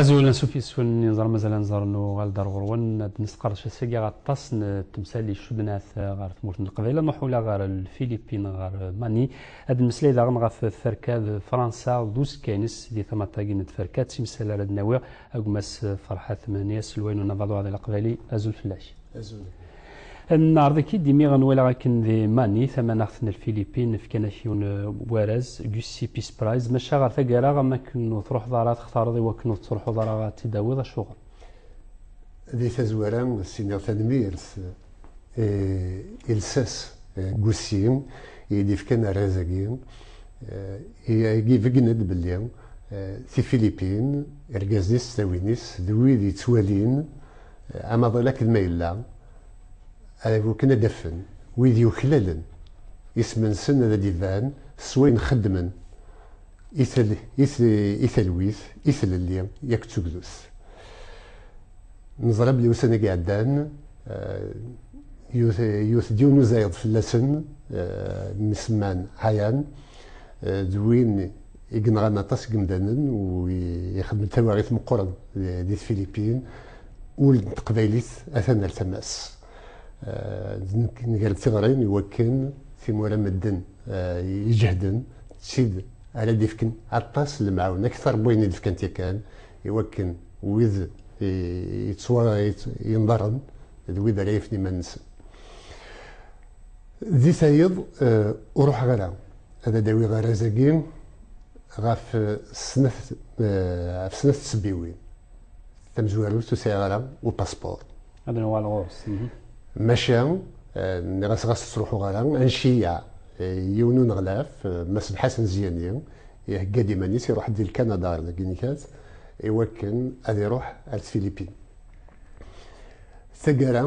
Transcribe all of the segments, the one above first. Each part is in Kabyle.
Azul, ansuf yes-wen, inẓer mazal anẓer nuɣal-d ar ɣur-wen ad d-nesqerdec ass-agi aṭas n temsal icudnat ɣer tmurt n Leqbayel, ad nruḥ ula ɣer Lfilipin, ɣer Mani, ad nemmeslay daɣen ɣef tferka d Fransa d uzekka-ines di tama-agi n tferka, d timsal ara d-nawi a gma-s Ferḥat Mhenni, aselway n unabaḍur di Leqbayel. Azul fell-ak. Azul. Nɛreḍ-ik-id imi nwala akken di Mani, tamanaɣt n Lfilipin, fkan-ak yiwen warraz, Gussy Peace Prize, maca ɣer taggara am wakken ur truḥeḍ ara ad textareḍ i wakken ur tettruḥuḍ ara ad t-id-tawiḍ, acuɣer? Di tazwara, s-iniɣ tanemmirt i lsas Gussy i yi-d-ifkan arraz-agi, i ibeggen-d belli Tifilipin, irgazen-is, tlawin-is d wid yettwalin, Amaḍal akken ma yella, ara bukken ad d-afen wid yuklalen isem-nsen ad d-iban s wayen xeddmen i talwit, i tlelli yak d tugdut. Neẓra belli ussan-agi iɛeddan yewwet-d yiwen uzayeḍ fell-asen, mmi-s Mann Hayan d win, i yenɣan aṭas n yimdanen u ixeddem-d tawaɣit meqqren di Tfilipin, ul n teqbaylit atan ar tama-s. Nger-d tiɣrin i wakken timura medden iǧehden d tid ara d-ifken aṭas n lemɛawna akter n wayen i d-fkant yakan i wakken wid yettwayenḍaren d wid ara yafen iman-nsen di tayeḍ. Ur ruḥeɣ ara. ad d-awiɣ arraz-agi ɣef snat ɣef snat tsebbiwin tamezwarut ur sɛiɣ ara upaspuṛ ad nuɣal ɣur-s maca nniɣ-as ɣas ttruḥuɣ ara anciyya yiwen n uneɣlaf Mass Lḥasen Zyani ihegga-d iman-is iruḥ-d di Lkanada ɣer Laginikat iwakken ad iruḥ ar Tfilipin Taggara,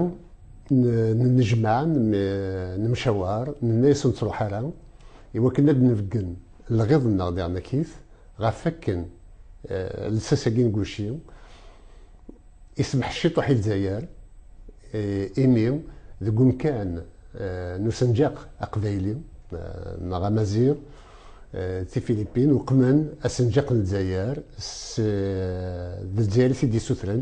nnejmaɛ, nemcawar, nenna-as ur nettruḥ ara, i wakken ad d-nbeggen lɣiḍ-nneɣ di Ɛennakit, ɣef wakken lsas-agi n Gucci isemḥ ciṭuḥ i Lezzayer, imi deg umkan n usenǧaq aqbayli neɣ amaziɣ, Tifilipin uqmen asenǧaq n Lezzayer, s d Lezzayer i t-id-yessutren,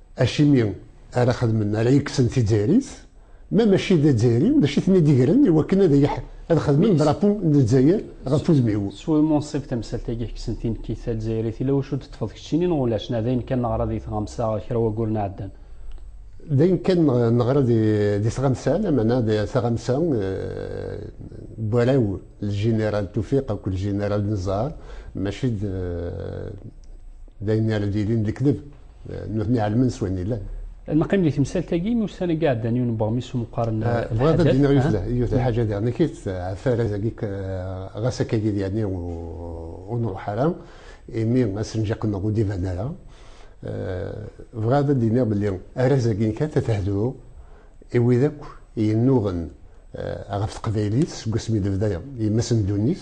Acimi ara xedmen, ara yekksen tizzayrit, ma mačči d azzayri, d acu i ten-id-igren i wakken ad xedmen drapeau n Lezzayer ɣef wudem-iw? S wemmunsib tamsalt-agi i kksen tinekkit tazzayrit, yella wacu d-teṭṭfeḍ keččini neɣ ulac, neɣ d ayen kan neɣra di tɣamsa kra wagguren iɛeddan? D ayen kan neɣra di tɣamsa, lamana d taɣamsa n warraw Ljeneral Tufiq akked Ljeneral Nezzar, mačči d ayen ara d-yilin lekdeb. nutni ɛelmen s wayen yellan. Neqqim di temsalt-agi n ussan-agi iɛeddan yiwen n weɣmis umeqqar n lḥaǧat. Eh, bɣiɣ ad d-iniɣ yiwet lḥaǧa diɣ nekk ɛef arraz-agi eh, ɣas akka yid yani ur nruḥ ara imi asenǧaq-nneɣ ur d-iban ara. Eh, bɣiɣ ad d-iniɣ belli arraz-agi nekk ad tehdu i wid akk yennuɣen ɣef teqbaylit seg wasmi d-bda yemma-s n ddunit.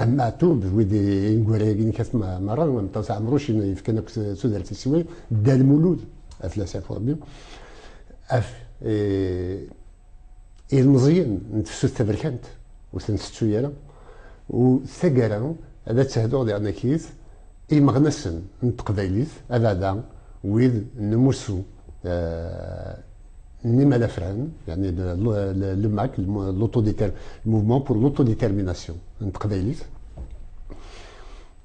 Ɛem Maɛtub d wid inegwara-agi n Kat Merra, am Ṭṭes Ɛemruc, i yefkan akk tudert i Siwi, Dda Lmulud, af d asaf urebbi, af ilmeẓyen n tefsut taberkant, ur ten-tettu ara, u taggara ad ad-tehduɣ di Anakit imeɣnasen n teqbaylit, abeɛda wid n umussu, ni malafran, yani le MAC, le mouvement pour l'autodétermination, n teqbaylit,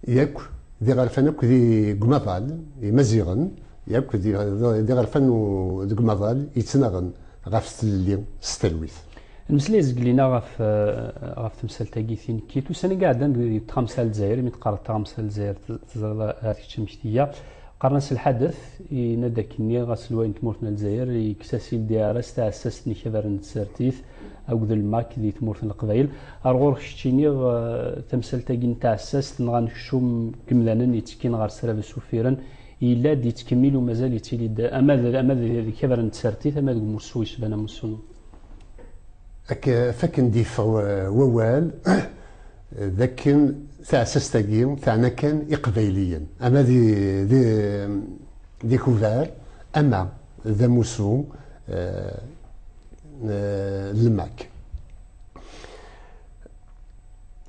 yak d iɣerfan akk di gmaḍal, imaziɣen, yak d iɣerfan deg umaḍal yettnaɣen ɣef tlelli s talwit. Nmeslay zgelina ɣef ɣef temsalt-agi tinekkit. Ussan-agi ɛeddan deg tɣamsa lezzayer, imi teqqareḍ tɣamsa lezzayer teẓriḍ ar kečč amek tga. Qqaren-as lḥadet, yenna-d akkenni aselway n tmurt n lezzayer yekkes-as IDR s tɛessast n yikabar n tsertit akked lmak di tmurt n leqbayel. Ar ɣur kečč iniɣ tamsalt-agi n tɛessast neɣ anekcum n yemdanen yettekkin ɣer srabes uffiren yella-d, yettkemmil umazal yettili-d ama d yikabar n tsertit ama deg umussu yecban amussu n. Fakken d-yeffeɣ wawal d akken taɛessast-agi teɛna kan Iqbayliyen, ama d ikubar ama d amussu n lmak.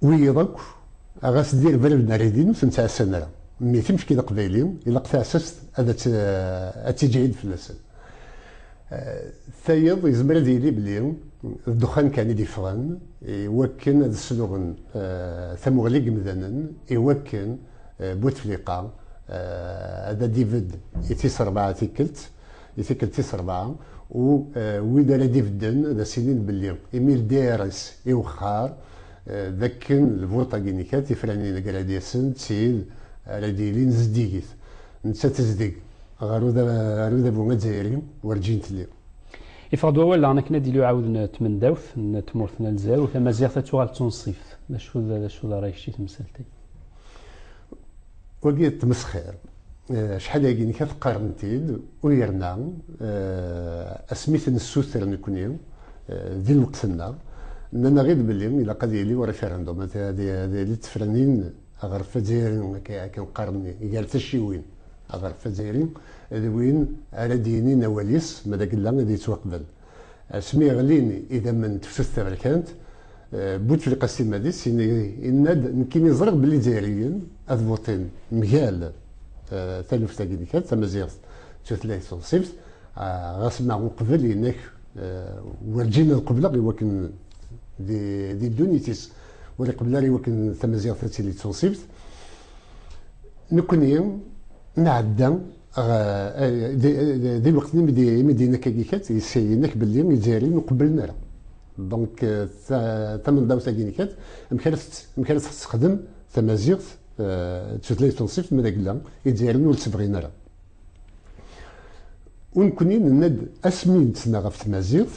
Wiyiḍ akk, ɣas d irebren n rridin, ur ten-ttɛassan ara. Mi ten-fken Iqbayliyen, ilaq taɛessast ad tiǧhid fell-asen. Tayeḍ yezmer ad yili belli d ddexxan kan i d-yeffɣen iwakken ad sluɣen tamuɣli n yemdanen iwakken Bouteflika ad d-ibedd i tis rebɛa tikkelt, i tikkelt tis rebɛa, u wid ara d-ibedden ad as-inin belli imi ldirs iwexxar d akken lvuṭ-agi n kra tifranin agradyas-n d tid ara d-yilin zeddigit. Nettat tezdeg ɣer udabu azzayri, werǧin telli. Yeffeɣ-d wawal daɣen akken ad yili uɛawed n tmendawt n tmurt n Lezzayer u tamaziɣt ad tuɣal d tunṣibt. D acu d acu d rray-ik i temsalt-agi? Wagi d tmesxir. Acḥal agi nekk ad t-qqaren-t-id u yerna asmi i ten-nessuter nekkni di lweqt-nneɣ, nnan-aɣ-id belli ilaq ad yili ureferendum, ad yili d tefranin Aɣref azzayri, akken qqaren gar tacciwin, aɣref azzayri d win ara d-yinin awal-is ma d agella ad yettwaqbel. Asmi ɣlin idammen n tefsut taberkant, Bouteflika Slimani yenna-d, Nekkini ẓriɣ belli Izzayriyen ad votin mgal taluft-agi n kra, tamaziɣt d tutlayt tunṣibt, ɣas ma uqbel yenna-k, werǧin ad qebleɣ i wakken di ddunit-is. ur iqebbel ara iwakken tamaziɣt ad tili d tunṣibt nekkni nɛedda di lweqt imi d inak agi kat inak belli izzayriyen ur qebblen ara donc tamendawt-agi kat amek ara amek ara texsexdem tamaziɣt d tutlayt tunṣibt mi d agella izzayriyen ur tt-bɣin ara Ur nekkni nenna-d asmi nettna ɣef tmaziɣt,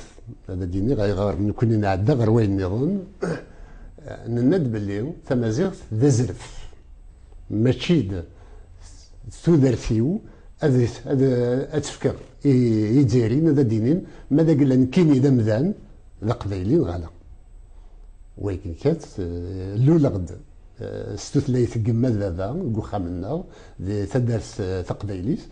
ad d-iniɣ ayɣer nekkni nɛedda ɣer wayen nniḍen, nenna-d belli tamaziɣt d azref, mačči d tudert-iw ad tt-fkeɣ i Izzayriyen ad d-inin ma d agella nekkini d amdan d aqbayli neɣ ala. Wayegga kan luleɣ-d. s tutlayt n yemma d baba deg uxxam-nneɣ di taddart taqbaylit,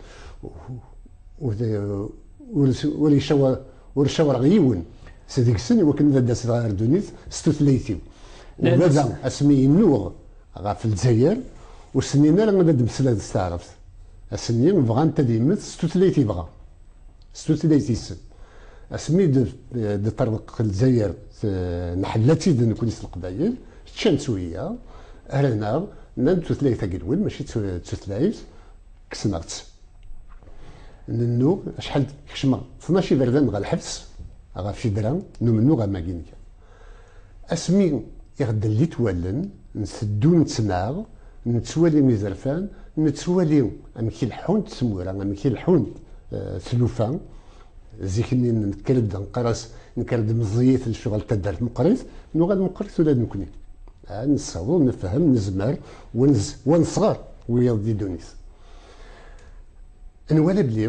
ur cawareɣ yiwen s deg-sen iwakken ad d-aseɣ ar ddunit s tutlayt-iw. U baba asmi yennuɣ ɣef Lezzayer, ur s-nnin ara ad d-meslayeḍ s taɛrabt. Ass-nni bɣant ad yemmet s tutlayt yebɣa. s tutlayt-is asmi d-ṭerneq Lezzayer nḥella-tt-id nekni s Leqbayel ččan-tt wiyaḍ hran-aɣ nnan-d tutlayt agelwim mačči d tutlayt kksen-aɣ-tt nennuɣ acḥal kecmeɣ tnac iberdan ɣer lḥebs ɣef fidra n umennuɣ amagi n Asmi i ɣ-d-llit wallen, nteddu nettnaɣ, nettwali izerfan, nettwali amek i leḥḥunt tmura, amek i leḥḥunt tlufa. Zik-nni nekker-d neqqar-as, nekker-d meẓẓiyit lecɣal taddart meqqrit, nuɣal meqqrit ula d nekkni. Nessaweḍ nefhem, nezmer, wa nesɣer wiyaḍ di ddunit. Nwala belli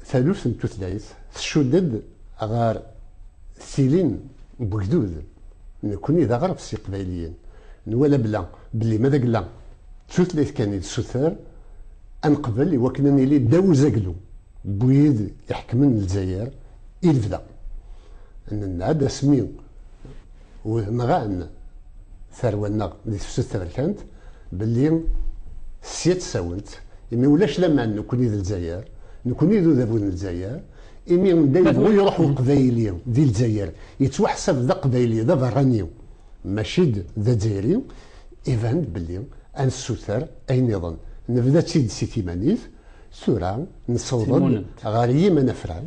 taluft n tutlayt tcudd-d ɣer tilin n wegdud, nekkni d aɣref s Iqbayliyen nwala bla belli ma d agla d tutlayt kan i d suter ad neqbel i wakken ad nili ddaw uzaglu n wid iḥekmen Lezzayer i lebda, nenna-d asmi. Nɣan tarwa-nneɣ di tefsut taberkant belli sya ttsawen-tt, imi ulac laman nekkni d Lezzayer, nekkni d udabu n Lezzayer, imi anda yebɣu iruḥ uqbayli di Lezzayer yettwaḥsab d aqbayli d aberrani mačči d azzayri, iban-d belli ad nessuter ayen niḍen, nebda-tt-id si timanit, tura nesseweḍ-d ɣer yimanafran.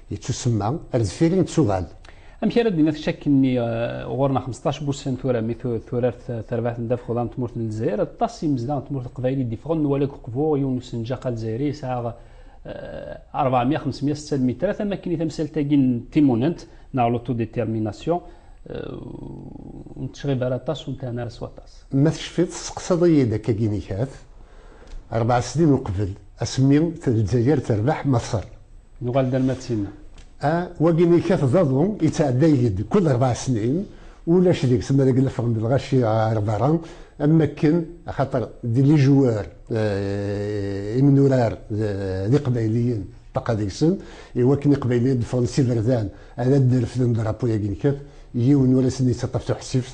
Yettusemma, ar deffir i nettuɣal. Amek ara d-naf ccak-nni ɣur-neɣ xmesṭac n wussan tura mi turar terbaɛt n ddabex uḍar n tmurt n Lezzayer, aṭas n yimezdaɣ n tmurt n Leqbayel i d-yeffɣen, nwala deg uqbu yiwen n usenǧaq alezayri yesɛa rebɛemya xemsemya setta lmitrat, am wakken i tamsalt-agi n timunent neɣ l'autodétermination ur nettecɣib ara aṭas, ur nttehna ara s waṭas. Ma tecfiḍ, testeqsaḍ-iyi-d akkagi nekat, rebɛa snin uqbel. Asmi Lezzayer terbeḥ Maṣer. Nuɣal-d alma d tinna. A, wagi yekkat d aḍu yettɛedday-d kull rebɛa snin, ulac deg-s ma deg lefɣ n lɣaci ɣer berra, am wakken axaṭer d lijwar imnurar d iqbayliyen ṭṭaqa deg-sen, i wakken iqbayliyen ad d-fɣen s iberdan ad d-refden drapo-yagi yekkat, yiwen ur asen-yettaṭṭaf tuḥsift,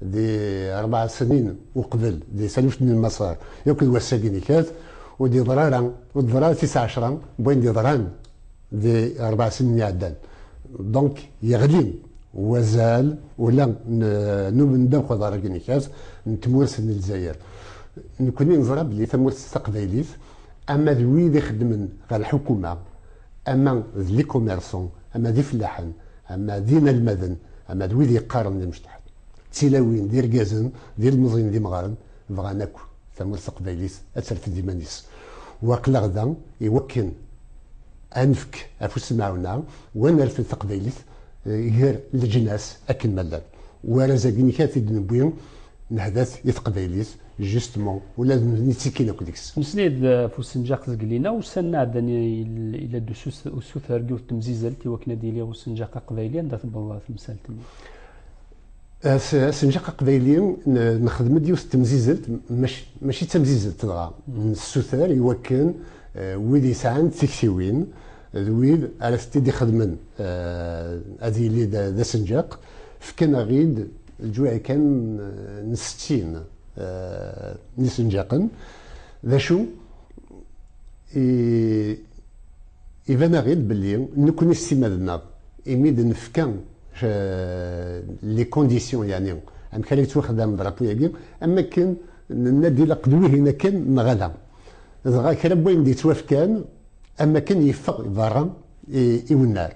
di rebɛa snin uqbel di taluft n lmaṣer yakk d wass-agi nekkat ur d-yeḍra ara ur d-teḍra ara tis ɛecra n wayen d-yeḍran di rebɛa snin iɛeddan donc yeɣli wazal ula n ubendaw aḍar-agi nekkat n tmurt n lezzayer nekni neẓra belli tamurt taqbaylit ama d wid ixeddmen ɣer lḥukuma ama d likomerson, ama d ifellaḥen, ama d inalmaden, ama d wid yeqqaren d imecṭaḥ, d tilawin, d irgazen, d ilmeẓyen, d imɣaren, bɣan akk tamurt taqbaylit ad terfed iman-is. U aql-aɣ da i wakken ad nefk afus n lmaɛuna u ad nerfed taqbaylit ger leǧnas akken ma llan. Uɛraz-agi-inek ara t-id-newwi, nehda-t i teqbaylit, justement, ula d nitni kkin akk deg-s. Nesnay-d ɣef usenǧaq zgelli-nneɣ, ussan iɛeddan yella-d usuter n yiwet n temzizelt i wakken ad d-yili usenǧaq aqbayli, anda tewweḍ temsalt-nni? Asenǧaq aqbayli, nexdem-d yiwet n temzizelt, mačči d tamzizelt dɣa, nessuter i wakken wid yesɛan tiktiwin, d wid ara t-id-ixedmen ad yili d asenǧaq, fkan-aɣ-id lǧuɛ kan n settin n yisenǧaqen, d acu? Iban-aɣ-id belli nekkni s timmad-nneɣ imi d-nefka les conditions yeɛni amek ara yettwaxdam drapeau-yagi am wakken nenna-d ilaq d wihin akken neɣ ala, dɣa kra n wayen d-yettwafkan, Am akken yeffeɣ berra i unnar.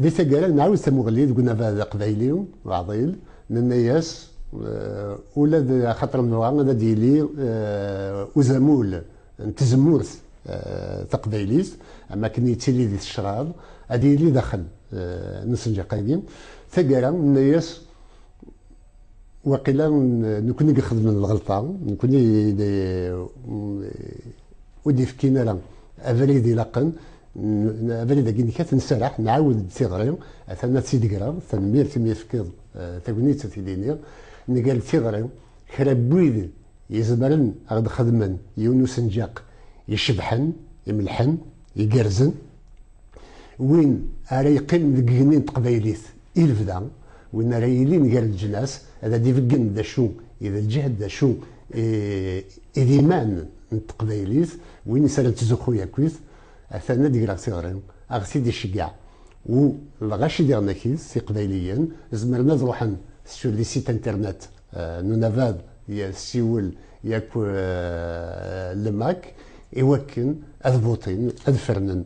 Di taggara nɛawed tamuɣli deg unabaḍ aqbayli uɛḍil, nenna-as ula d axaṭer nebɣa ad d-yili uzamul n tzemmurt taqbaylit am akken yettili di tecraḍ, ad yili daxel n usenǧaq-agi. Taggara nenna-as. Waqila nekni i yexedmen lɣelṭa, nekni ur d-yefkin ara abrid ilaqen, abrid agi nek ad t-nsaraḥ, nɛawed-d tiɣri, atan ad tt-id-greɣ, tanemmirt imi tefkiḍ tagnit a tili-nni, nger-d tiɣri, kra n wid izemren ad ɣ-d-xedmen yiwen n usenǧaq icebḥen, imelḥen, igerrzen, win ara yeqqimen deg yigenni n teqbaylit I lebda, win ara yilin gar leǧnas ad ad-ibeggen d acu i d lǧehd, d acu i d iman n teqbaylit, win is ara nettzuxxu akkit, atan ad greɣ tiɣri, a ɣ-t-id-iceggeɛ u lɣaci diɣen akkit, Iqbayliyen zemren ad ruḥen sur le site internet n unabad Siwel yak le Mac i wakken ad votin, ad fernen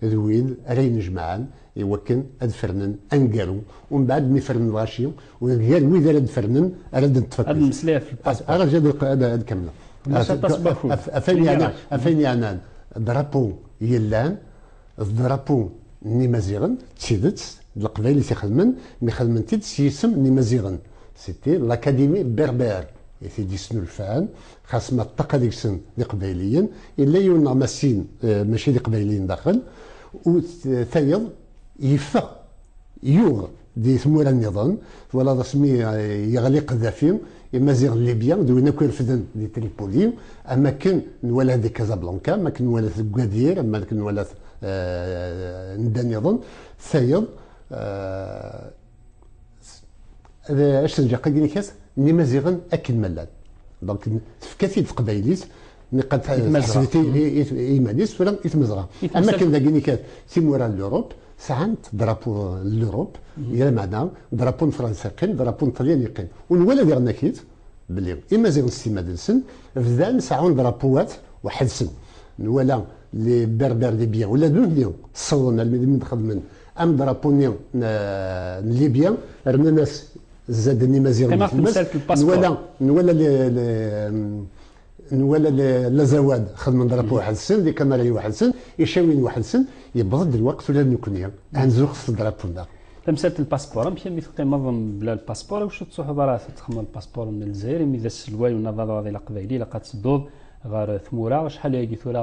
d wid ara yennejmaɛen i wakken ad fernen aneggaru, umbeɛd mi fernen lɣaci, u deg gar wid ara d-fernen ara d-neṭṭef Ad nemmeslay ɣef lpaspu. Ara zad ad kemmleɣ. Ulac aṭas n wakud. Ɣef wayen yeɛnan drapu yellan, d drapu n Imaziɣen, d tidet, d Leqbayel i t-ixedmen, mi xedmen-t-id s yisem n Imaziɣen. C'était l'Académie berbère i t-id-yesnulfan, Xas ma ṭṭaq ad gsen d iqbayliyen, yella yiwen neɣ ma sin mačči d iqbayliyen daxel, u tayeḍ yeffeɣ, yuɣ di tmura nniḍen, twalaḍ asmi yeɣli Qeddafi, imaziɣ n Libya d win akk irefden di Tripoli, am akken nwala-t di Casablanca, am akken nwala-t deg Gadir, am akken nwala-t anda nniḍen, tayeḍ. d acenǧaq agi nekas n imaziɣen akken ma llan donc tefka-t-id teqbaylit niqad teḥseb-it iman-is tura i tmezɣa am akken dagi nikat timura n l'Europe sɛant drapo n l'Europe di lameɛna drapo n Fransa yeqqim drapo n Ṭelyan yeqqim u nwala diɣen-aki-d belli imaziɣen s timmad-nsen bdan seɛɛun drapoat weḥḥed-sen nwala les berbères libyen ula d nutni ssawḍen almi d mi d-xedmen Am drapeau-nni n Libya. Rnan-as zzad n Imaziɣen di tmes. Nwala Lazawad xedmen drapeau weḥd-sen, d ikamarayen weḥd-sen, icawiyen weḥd-sen. Yewweḍ-d lweqt ula d nekkni ad nzuxx s drapeau-nneɣ. Tamsalt n lpaspuṛ. Amek imi teqqimeḍ mebla lpaspuṛ? Iwacu ur tettruḥuḍ ara ad t-texdmeḍ lpaspuṛ n Lezzayer? Imi d aselway unabaḍ-aḍil aqbayli, ilaq ad tedduḍ ɣer tmura. Acḥal ayagi tura?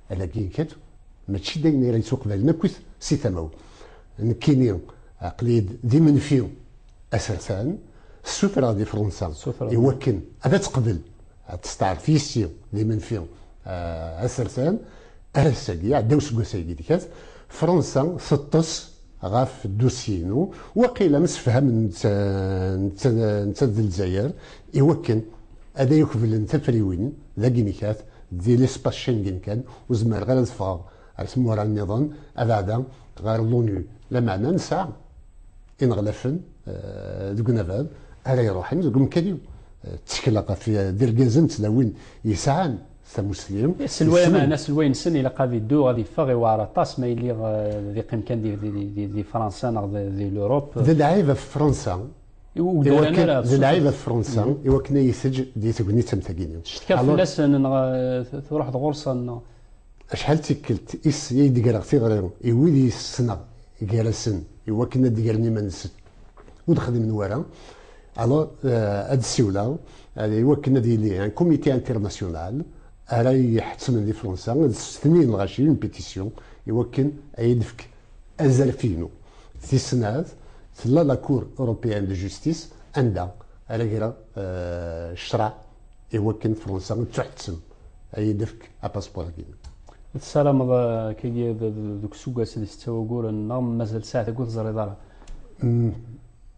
Alagi kan, mačči d ayen ara yettwaqbalen akkit si tama-w. Nekkini aql-iyi-d d imenfi asertan, ssutreɣ di Fransa i wakken ad aţ-teqbel, ad testeɛref yis-i d imenfi asertan. Ar ass-agi, iɛedda useggas ayagi d kat, Fransa teṭṭes ɣef ddusye-inu, waqila msefhamen-d neţţa d Lezzayer i wakken ad ay-ukblen tafriwin dagi n kat, Di l'espace Schengen kan, ur zemreɣ ara ad ffɣeɣ ar tmura nniḍen abeɛda ɣer l'ONU. Lameɛna nesɛa ineɣlafen deg unabaḍ ara iruḥen deg umkan-iw. Ttekleɣ ɣef irgazen d tlawin yesɛan tamussli. Aselway, ameɛna aselway-nsen ilaq ad iddu, ad iffeɣ, iwɛer aṭas ma yelli ad iqqim kan di Fransa neɣ di l'Europe. D lɛib ɣef Fransa. i wugdaran ara d lɛib af Fransa i wakken ay itejj di tegnit am tagi. Cetkaɣ fell-asen neɣ truḥeḍ ɣur-sen neɣ. Acḥal d tikkelt is i d-greɣ tiɣri i wid i ssneɣ gar-asen i wakken ad d-gren iman-nsen ur d-xdimen wara, alors ad d-ssiwleɣ i wakken ad yili un comité international ara iyi-iḥettmen di Fransa ad d-sseften i lɣaci une pétition i wakken ad iyi-d-tefk Azref-inu, tis snat, tella la Cour européenne de justice anda ara greɣ ccṛeɛ i wakken Fransa ad tuḥettem ad yi-d-tefk apaspuṛ-agi. Ma tessarameḍ ad k-geɣ deg useggas d setta wayyur neɣ mazal ssaɛa teggu ur teẓriḍ ara?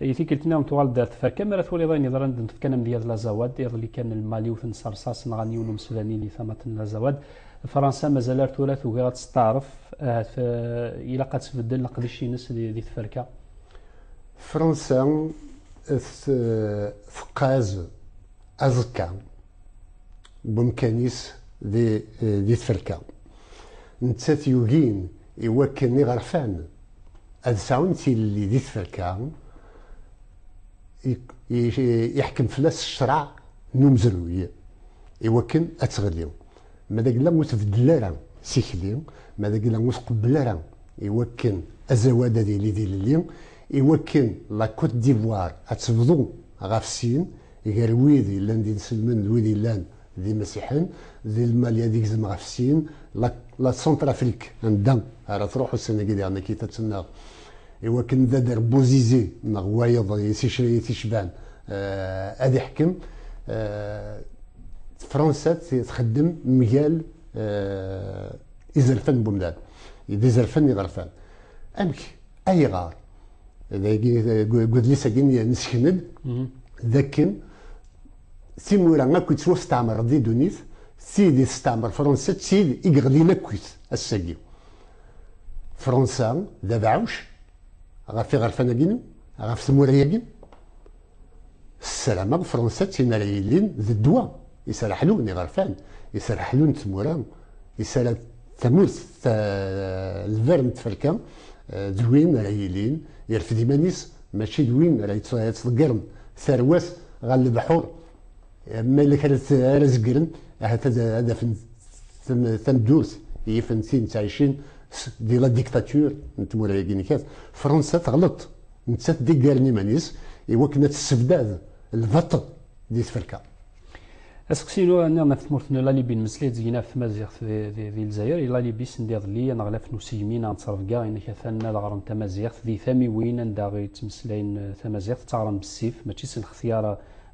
I tikkelt niḍen tuɣal-d ar tferka mi ara twaliḍ ayen yeḍran deg tfekka n amedya d Lazawad. Iḍelli kan Lmal iwten s rrsas nɣan yiwen umesbani di tamat n Lazawad. Fransa mazal ar tura tugi ad testeɛref, ahat ilaq ad tbeddel leqdic-ines di tferka. Fransa teqqaz aẓekka n wemkan-is di tferka. Nettat yugin I wakken iɣerfan ad sɛun tilelli di tferka, iḥkem fell-as ccreɛ n umezruy i wakken ad teɣli, ma d agla ur tbeddel ara tikli, ma d agla ur tqebbel ara i wakken azawad ad yili d ilelli, i wakken La Côte d'Ivoire ad tebḍu ɣef sin gar wid yellan d inselmen d wid yellan d imasiḥen, di Lmali ad igzem ɣef sin, la Centrafrique, anda ara truḥ ussan-agi diɣen akkit ad tennaɣ, i wakken d ader Bouzizi neɣ wayeḍ i t-icban ad iḥkem. Fransa txeddem mgal izerfan n umdan, d izerfan iɣerfan. Amek? Ayɣer? Dagi deg udlis-agi nesken-d d akken timura akk yettwastɛemren di ddunit, tid i testɛemmer Fransa d tid i yeɣlin akkit ass-agi. Fransa d abeɛɛuc ɣef iɣerfan-agi, ɣef tmura-agi. Ssarameɣ Fransa d tin ara yilin d ddwa i s ara ḥlun iɣerfan, i s ara ḥlun tmura, i s ara tamurt telber n tferka d win ara yilin yerfed iman-is, Mačči d win ara yettḍeggren tarwa-s ɣer lebḥur, ma yella kra ara zeggren, ahat ad afen tameddurt i yifen tin ttɛicin di la dictature n tmura-agi n kat. Fransa teɣleṭ, nettat d iggaren iman-is i wakken ad tessebdad lbaṭel di tferka. Aseqsi lu anni ɣef tmurt n Lalibi nmeslay d ɣef tmaziɣt di Lezzayer, i Lalibi send iḍelli aneɣlaf n usegmi neɣ n ttrebga inek atan ad ɣren tamaziɣt di tamiwin anda i ttmeslayen tamaziɣt, ttaɣren bessif mačči s lextyar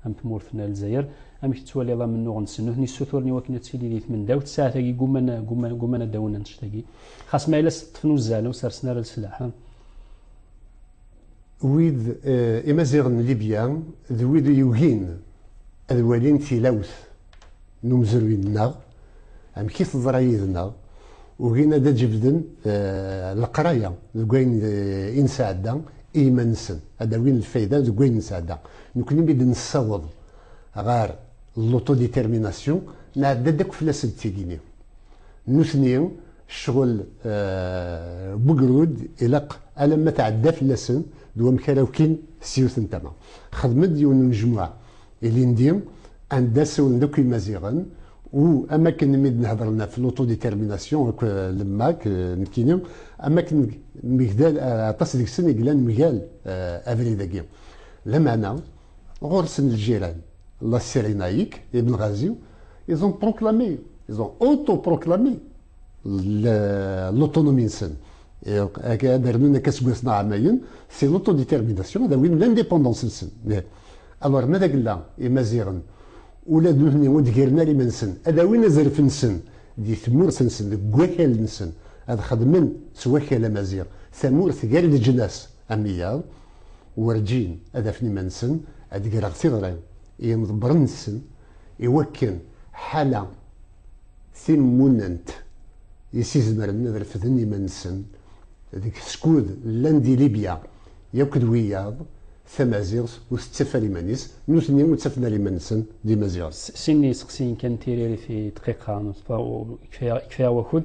am tmurt n Lezzayer. Amek tettwaliḍ amennuɣ-nsen? Nutni ssuturen i wakken ad tili di tmendawt, ssaɛat-agi gguman ad d-awen annect-agi, xas ma yella s ṭṭef n uzzal ur sersen ara leslaḥ. Wid imaziɣen n Libya d wid i yugin ad walin tilawt n umezruy-nneɣ, amek i teḍra yid-neɣ, ugin ad d-jebden leqraya deg wayen i nesɛedda i yiman-nsen, ad d-awin lfayda deg wayen nesɛedda. Nekkni mi d-nessaweḍ ɣer l'auto-détermination, nɛedda-d akk fell-asen tigi-nni. Nutni, ccɣel n wegrud ilaq alamma tɛedda fell-asen d wamek ara ukin s yiwet n tama. Xedmen-d yiwen n unejmuɛ ilindi anda ssawlen-d akk Imaziɣen u am wakken mi d-nhedren ɣef l'auto-détermination akk lemma k nekkini am wakken mgdal aṭas deg-sen i yellan mgal abrid-agi. Lameɛna. Ɣur-sen ljiran, la Cyrénaïque, Ibn Ghazi, ils ont proclamé, ils ont autoproclamé l'autonomie-nsen. Ad rnun akka seg wass-nneɣ ɛamayen, c'est l'autodétermination, ad awin l'indépendance-nsen. Alors, ma d agella, imaziɣen, ula d nutni ur d-giren ara iman-nsen, ad awin azref-nsen di tmurt-nsen, deg wakal-nsen, ad xedmen s wakal amaziɣ tamurt gar leǧnas am wiyaḍ, werǧin ad afen iman-nsen ad d-greɣ tiḍri i yimḍebbren-nsen, iwakken ḥala tin mmunnent i s-izemren ad refden iman-nsen deg skud llan di Libya yakk d wiyaḍ tamaziɣt ur tettaf ara iman-is, nutni ur ttafen ara iman-nsen d imaziɣen. Sin n yiseqsiyen kan n tiririt i ddqiqa, yekfa-aɣ wakud.